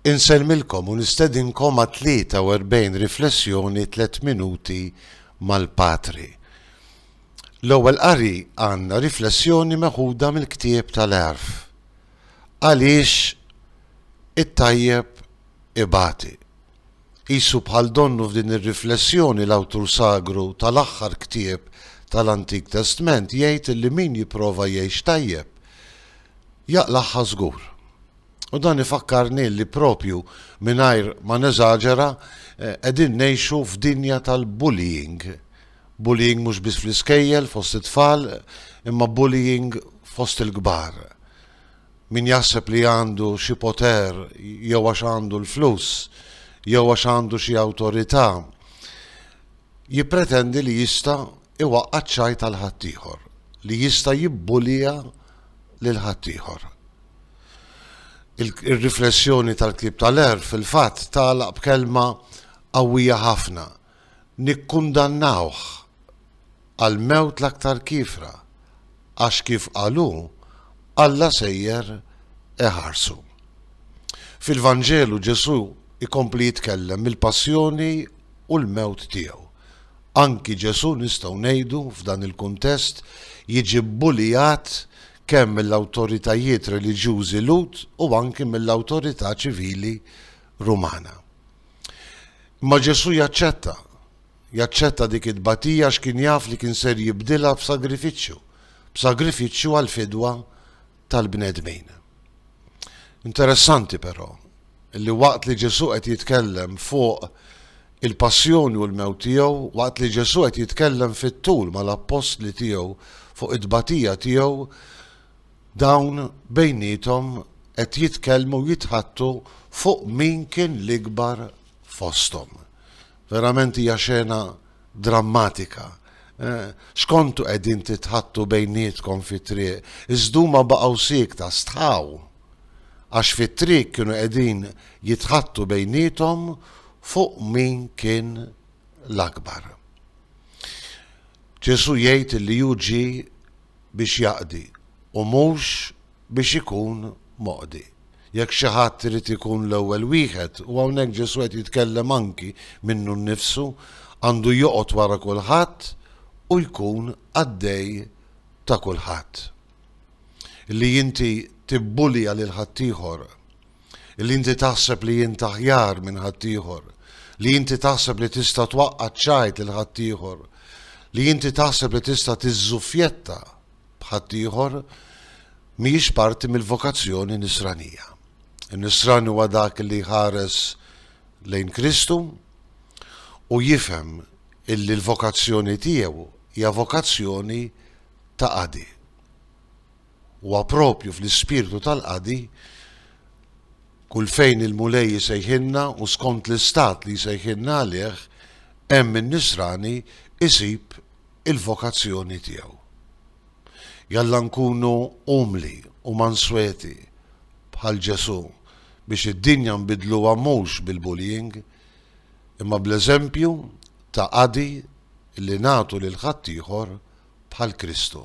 Insellmilkom u nistedinkom għat-43 riflessjoni Tliet Minuti mal-Patri. L-ewwel qari għandna riflessjoni meħuda mill-ktieb tal-Għerf, Għaliex it-tajjeb ibati. Qisu bħal donnu f'din ir-riflessjoni l-awtur sagru tal-aħħar ktieb tal-Antik Testment jgħid li min jipprova jgħix tajjeb, jaqlagħha żgur. U dan ifakkarni li propju mingħajr ma neżaġera qegħdin ngħixu f'dinja tal-bullying. Bullying mhux biss fl-iskejjel fost it-tfal imma bullying fost il-kbar. Min jaħseb li għandu xi poter jew għax għandu l-flus jew għax għandu xi awtorità jippretendi li jista' iwaqqa' ċ-ċajt għal ħaddieħor, li jista' jibbulija lil ħaddieħor. Ir-riflessjoni tal-ktieb ta' Lehr fil-fatt tagħlaq b'kelma qawwija ħafna, Nikkundannawh għall-mewt l-aktar kiefra, għax kif qal hu, Alla sejjer iħarsu. Fil-Vanġelu Ġesù jkompli jitkellem mill-passjoni u l-mewt tiegħu. Anki Ġesù nistgħu ngħidu f'dan il-kuntest jiġi bbulijat kemm mill-awtoritajiet reliġjużi Lhud u anki mill-awtorità ċivili Rumana. Imma Ġesù jaċċetta. Jaċċetta dik it-tbatija għax kien jaf li kien ser jibdilha b'sagrifiċċju, b'sagrifiċċju għall-fidwa tal-bnedmin. Interessanti però, li waqt li Ġesù qed jitkellem fuq il-passjoni u l-mewt tiegħu, waqt li Ġesù qed jitkellem fit-tul mal-appostli tiegħu fuq it-tbatija tiegħu, Dawn bejniethom qed jitkellmu u jitħaddtu fuq min kien l-ikbar fosthom. Verament hija xena drammatika. X'kontu qegħdin titħaddtu bejnietkom fit-triq? Iżda huma baqgħu siekta, stħaw. Għax fit-triq kienu qegħdin jitħaddtu bejniethom fuq min kien l-akbar. Ġesù jgħid li hu ġie biex jaqdi u mhux biex ikun moqdi. Jekk xi ħadd irid ikun l-ewwel wieħed, u hawnhekk Ġesù qed jitkellem anki minnu nnifsu, għandu joqgħod wara kulħadd u jkun qaddej ta' kulħadd. Li inti tibbulija lil ħaddieħor li inti taħseb li int aħjar minn ħaddieħor, li inti taħseb li tista' twaqqa' ċajt lil ħaddieħor, li inti taħseb li tista' tiżżuffjetta b'ħaddieħor mhijiex parti mill-vokazzjoni nisranija. In-nisran huwa dak li ħares lejn Kristu u jifhem illi l-vokazzjoni tiegħu hija vokazzjoni ta' qadi. Huwa proprju fl-ispirtu tal-qadi, kull fejn il-Mulej isejħilna u skont l-istat li jsejħilna għalih, hemm in-nisrani jsib il-vokazzjoni tiegħu. Jalla nkunu umli u mansweti bħal Ġesù biex id-dinja nbiddluha mhux bil-bullying, imma bl-eżempju ta' qadi li nagħtu lil ħaddieħor bħal Kristu.